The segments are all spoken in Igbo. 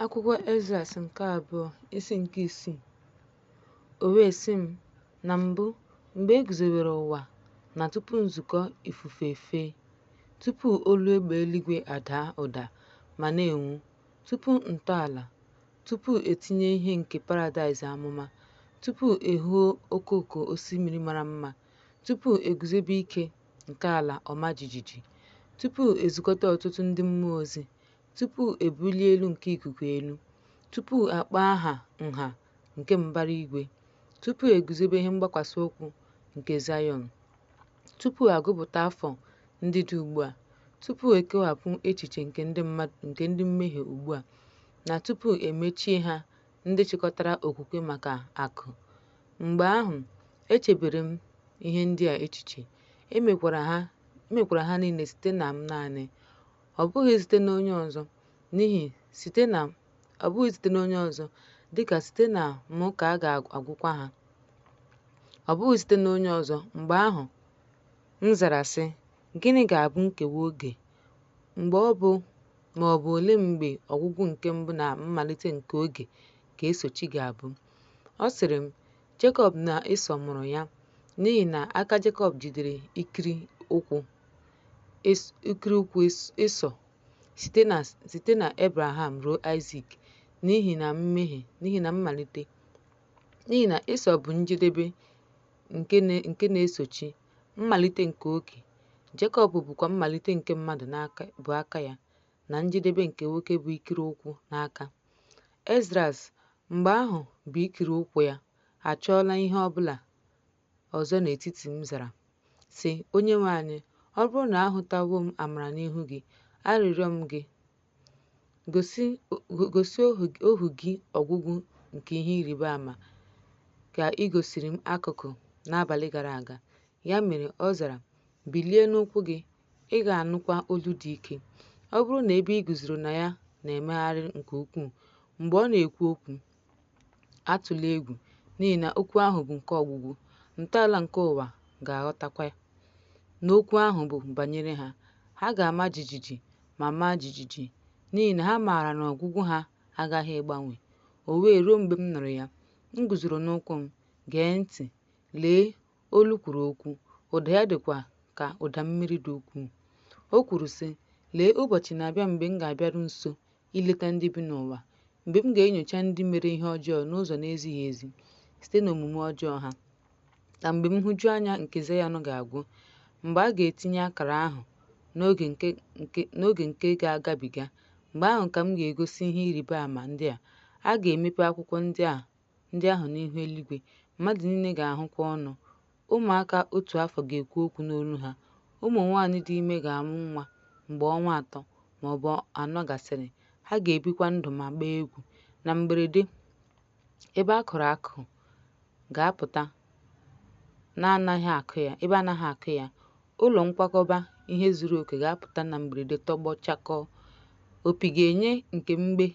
Akwụkwọ Ezras nke abụọ isi nke isii O wee sị m, Na mbụ, mgbe e guzobere ụwa na tupu nzukọ ifufe efee, tupu olu egbe eluigwe adaa ụda ma na-enwu, tupu ntọala, tupu etinye ihe nke paradaịs amụma, tupu ehuo okooko osimiri mara mma, tupu eguzobe ike nke ala ọma jijiji, tupu ezukọta ọtụtụ ndị mmụọ ozi, tupu e bulie elu nke ikuku elu, tupu a kpọọ aha nha nke mbara igwe, tupu e guzobe ihe mgbakwasị ụkwụ nke Zayọn, tupu a gụpụta afọ ndị dị ugbu a, tupu e kewapụ echiche nke ndị mmehie ugbu a, na tupu e mechie ha ndị chịkọtara okwukwe maka akụ. Mgbe ahụ, echebere m ihe ndị a echiche, emekwara ha niile site na m naanị. ọ bụghị site n'onye ọzọ, n'ihi ọ bụghị site n'onye ọzọ, dịka site na m ka a ga-agwụkwa ha. Ọ bụghị site n'onye ọzọ. Mgbe ahụ, m zara sị, Gịnị ga-abụ nkewa oge? Mgbe ọ bụ ma ọ bụ ole mgbe ọgwụgwụ nke mbụ na mmalite nke oge ga-esochi ga-abụ? Ọ sịrị m, Jekọb na Ịsọ mụrụ ya n'ihi na aka Jekọb jidere ikiri ụkwụ Ịsọ site na Ebraham ruo Aịzik n'ihi na mmalite n'ihi na Ịsọ bụ njedebe nke na-esochi mmalite nke oge Jekọb bụkwa mmalite nke mmadụ bụ aka ya na njedebe nke nwoke bụ ikiri ụkwụ n'aka Ezras Mgbe ahụ bụ ikiri ụkwụ ya, achọọla ihe ọ bụla ọzọ n'etiti m zara, sị, Onyenwe anyị, ọ bụrụ na ahụtawo m amara n'ihu gị, arịrịọ m gị, gosi ohu gị ọgwụgwụ nke ihe ịrịba ama ka ị gosiri m akụkụ n'abalị gara aga. Ya mere ọ zara, Bilie n'ụkwụ gị, ị ga-anụkwa olu dị ike. Ọ bụrụ na ebe i guzoro na ya na-emegharị nke ukwuu mgbe ọ na-ekwu okwu, atụla egwu, n'ihi na okwu ahụ bụ nke ọgwụgwụ, ntọala nke ụwa ga-aghọtakwa na okwu ahụ bụ banyere ha. Ha ga-ama jijiji ma maa jijiji, n'ihi na ha maara na ọgwụgwụ ha aghaghị ịgbanwe. O wee ruo mgbe m nụrụ ya, m guzoro n'ụkwụ m, gee ntị, lee, olu kwuru okwu, ụda ya dịkwa ka ụda mmiri dị ukwuu. O kwuru, sị, Lee, ụbọchị na-abịa mgbe m ga-abịaru nso ileta ndị bi n'ụwa, mgbe m ga-enyocha ndị mere ihe ọjọọ n'ụzọ na-ezighị ezi site n'omume ọjọọ ha, na mgbe nhụjuanya nke Zayọn ga-agwụ, mgbe a ga-etinye akara ahụ n'oge nke nke n'oge nke ga-agabiga, mgbe ahụ ka m ga-egosi ihe ịrịba ama ndị a, a ga-emepe akwụkwọ ndị a ndị ahụ n'ihu eluigwe, mmadụ niile ga-ahụkwa ọnụ. Ụmụaka otu afọ ga-ekwu okwu n'olu ha. Ụmụ nwaanyị dị ime ga-amụ nwa mgbe ọnwa atọ ma ọ bụ anọ gasịrị. Ha ga-ebikwa ndụ ma gbaa egwu. Na mberede, ebe a kụrụ akụ ga-apụta na-anaghị akụ ya, ebe anaghị akụ ya, Ụlọ nkwakọba ihe zuru oke ga-apụta na mberede tọgbọ chakọọ. Opi ga-enye nke mgbe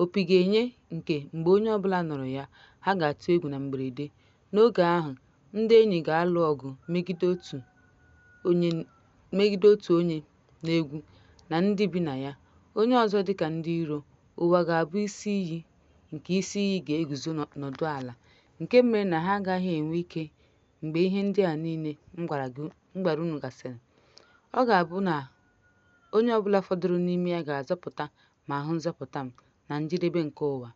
opi ga-enye nke mgbe onye ọbụla nụrụ ya, ha ga-atụ egwu na mberede. N'oge ahụ, ndị enyi ga-alụ ọgụ megide otu onye megide otu onye n'egwu na ndị bi na ya, onye ọzọ dịka ndị iro. Ụwa ga-abụ isi iyi nke isi iyi ga-eguzo nọdụ ala, nke mere na ha agaghị enwe ike mgbe ihe ndị a niile m gwara gị m gwara unu gasịrị. Ọ ga-abụ na onye ọbụla fọdụrụ n'ime ya ga-azọpụta ma hụ nzọpụta m na njedebe nke ụwa.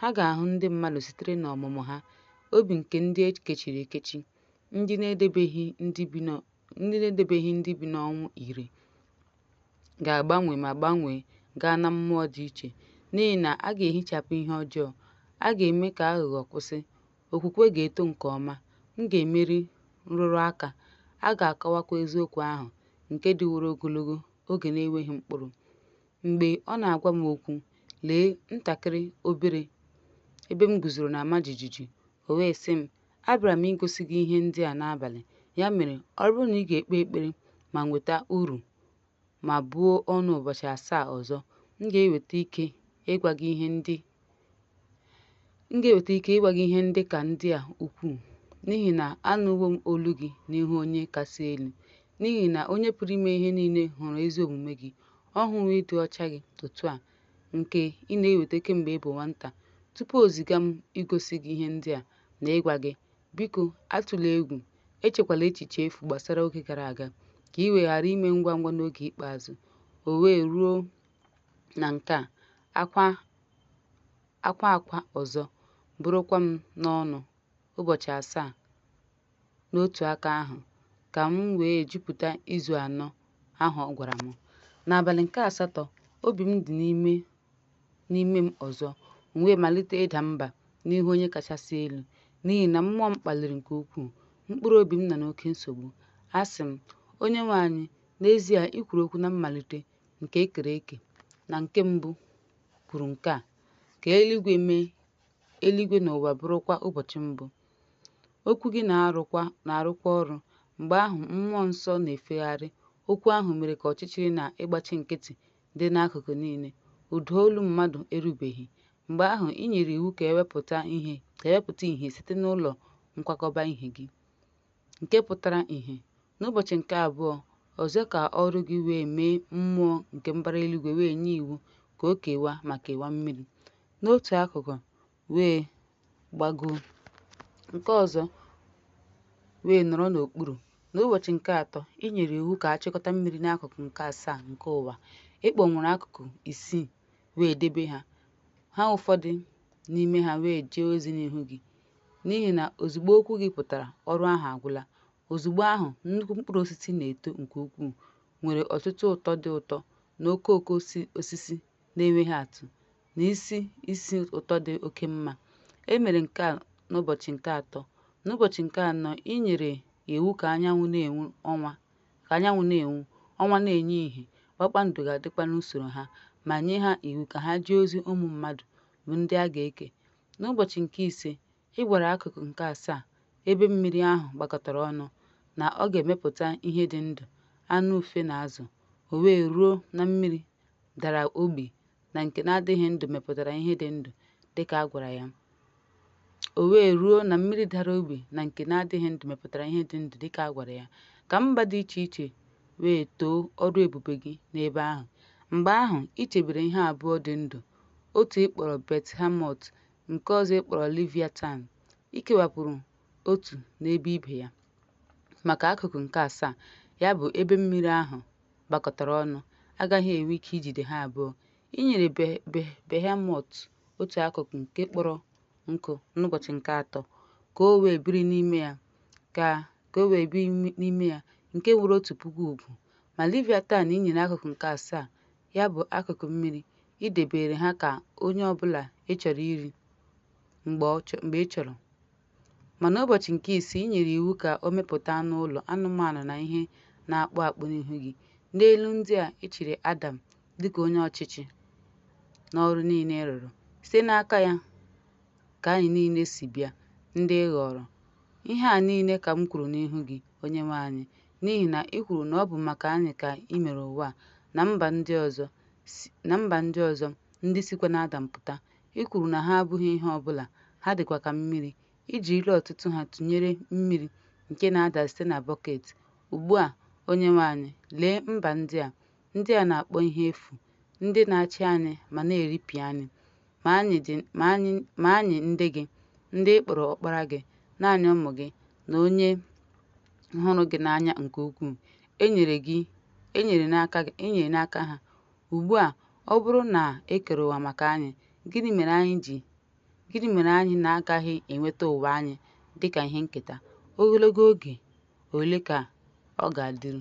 Ha ga-ahụ ndị mmadụ sitere n'ọmụmụ ha, obi nke ndị e kechiri ekechi, ndị na-edebeghị ndị bi n'ọ- ndị na-edebeghị ndị bi n'ọnwụ ire ga-agbanwe ma gbanwee gaa na mmụọ dị iche, n'ihi na a ga-ehichapụ ihe ọjọọ, a ga-eme ka aghụghọ kwụsị, okwukwe ga-eto nke ọma, m ga-emeri nrụrụ aka, a ga-akọwakwa eziokwu ahụ nke dịworo ogologo oge na-enweghị mkpụrụ. Mgbe ọ na-agwa m okwu, lee, ntakịrị obere ebe m guzoro na-ama jijiji, o wee sị m, Abịara m igosi gị ihe ndị a n'abalị, ya mere ọ bụrụ na ị ga-ekpe ekpere ma nweta uru, ma buo ọnụ ụbọchị asaa ọzọ, m ga-enweta ike ịgwa gị ihe ndị m ga-enweta ike ịgwa gị ihe ndị ka ndị a ukwuu, n'ihi na anụwo m olu gị n'ihu Onye Kasị Elu. N'ihi na Onye Pụrụ Ime Ihe Niile hụrụ ezi omume gị, ọ hụwo ịdị ọcha gị otu a nke ị na-eweta kemgbe ị bụ nwata. Tupu o ziga m igosi gị ihe ndị a na ịgwa gị Biko, atụla egwu. Echekwala echiche efu gbasara oge gara aga, ka i wee ghara ime ngwa ngwa n'oge ikpeazụ. O wee ruo na nke a, akwa akwa akwa ọzọ, bụrụkwa m n'ọnụ ụbọchị asaa n'otu aka ahụ, ka m wee jupụta izu anọ ahụ ọ gwara m. N'abalị nke asatọ, obi m dị n'ime n'ime m ọzọ, m wee malite ịda mba n'ihu Onye kachasị elu, n'ihi na mmụọ m kpaliri nke ukwuu, mkpụrụ obi m nọ n'oke nsogbu. Asị m, Onyenwe anyị, n'ezie i kwuru okwu na mmalite nke e kere eke, na nke mbụ kwuru nke a, ka eluigwe mee, eluigwe na ụwa bụrụkwa ụbọchị mbụ. Okwu gị na-arụkwa ọrụ. Mgbe ahụ, mmụọ nsọ na-efegharị. Okwu ahụ mere ka ọchịchịrị na ịgbachi nkịtị dị n'akụkụ niile, ụda olu mmadụ erubeghị. Mgbe ahụ i nyere iwu ka e wepụta ihe site n'ụlọ nkwakọba ihe gị, nke pụtara ihe. N'ụbọchị nke abụọ ọzọ ka ọrụ gị wee mee mmụọ nke mbara eluigwe wee nye iwu ka o kewaa ma kewaa mmiri. N'otu akụkụ, wee gbagoo nke ọzọ wee nọrọ n'okpuru. N'ụbọchị nke atọ, i nyere iwu ka a chịkọta mmiri n'akụkụ nke asaa nke ụwa. Ị kpọnwụrụ akụkụ isii wee debe ha, ha ụfọdụ n'ime ha wee jee ozi n'ihu gị. N'ihi na ozugbo okwu gị pụtara, ọrụ ahụ agwụla. Ozugbo ahụ, nnukwu mkpụrụ osisi na-eto nke ukwuu, nwere ọtụtụ ụtọ dị ụtọ na okooko osisi na-enweghị atụ, na isi isi ụtọ dị oke mma. E mere nke a n'ụbọchị nke atọ. N'ụbọchị nke anọ, i nyere iwu ka anyanwụ na-enwu, ọnwa na-enye ihe, kpakpando ga-adịkwa n'usoro ha, ma nye ha iwu ka ha jee ozi ụmụ mmadụ bụ ndị a ga-eke. N'ụbọchị nke ise, Ị gwara akụkụ nke asaa ebe mmiri ahụ gbakọtara ọnụ na ọ ga-emepụta ihe dị ndụ, anụ ufe na azụ, o wee ruo na mmiri dara ogbi na nke na-adịghị ndụ mepụtara ihe dị ndụ dị ka a gwara ya. O wee ruo na mmiri dara ogbi na nke na-adịghị ndụ mepụtara ihe dị ndụ dị ka a gwara ya, ka mba dị iche iche wee too ọrụ ebube gị n'ebe ahụ. Mgbe ahụ, i chebere ihe abụọ dị ndụ, otu ị kpọrọ Bet-hamot, nke ọzọ ị kpọrọ Leviatan, i kewapụrụ otu n'ebe ibe ya. Maka akụkụ nke asaa, ya bụ, ebe mmiri ahụ gbakọtara ọnụ, agaghị enwe ike ijide ha abụọ. I nyere Behemọt otu akụkụ nke kpọrọ nkụ n'ụbọchị nke atọ, ka o wee biri, ka o wee biri n'ime ya, nke nwere otu puku ugwu. Ma Leviatan i nyere akụkụ nke asaa ya bụ akụkụ mmiri, i debere ha ka onye ọbụla ị chọrọ iri mgbe ị chọrọ. Ma n'ụbọchị nke isii i nyere iwu ka o mepụta anụ ụlọ, anụmanụ na ihe na-akpụ akpụ n'ihu gị. N'elu ndị a, i chiri Adam dịka onye ọchịchị n'ọrụ niile ị rụrụ. Site n'aka ya ka anyị niile si bịa, ndị ị ghọrọ. Ihe a niile ka m kwuru n'ihu gị, Onyenwe anyị, N'ihi na i kwuru na ọ bụ maka anyị ka i mere ụwa a na mba ndị ọzọ, ndị sikwa n'Adam pụta. I kwuru na ha abụghị ihe ọ bụla, ha dịkwa ka mmiri. I jirila ọtụtụ ha tụnyere mmiri nke na-ada site na bọket. Ugbu a, Onyenwe anyị, lee mba ndị a, ndị a na-akpọ ihe efu, ndị na-achị anyị ma na-eripịa anyị. Ma anyị ndị gị, ndị ị kpọrọ ọkpara gị, naanị ụmụ gị, na onye hụrụ gị n'anya nke ukwuu, e nyere n'aka ha. Ugbu a, ọ bụrụ na e kere ụwa maka anyị, gịnị mere anyị na-agaghị enweta ụwa anyị dị ka ihe nketa? Ogologo oge ole ka ọ ga-adịru?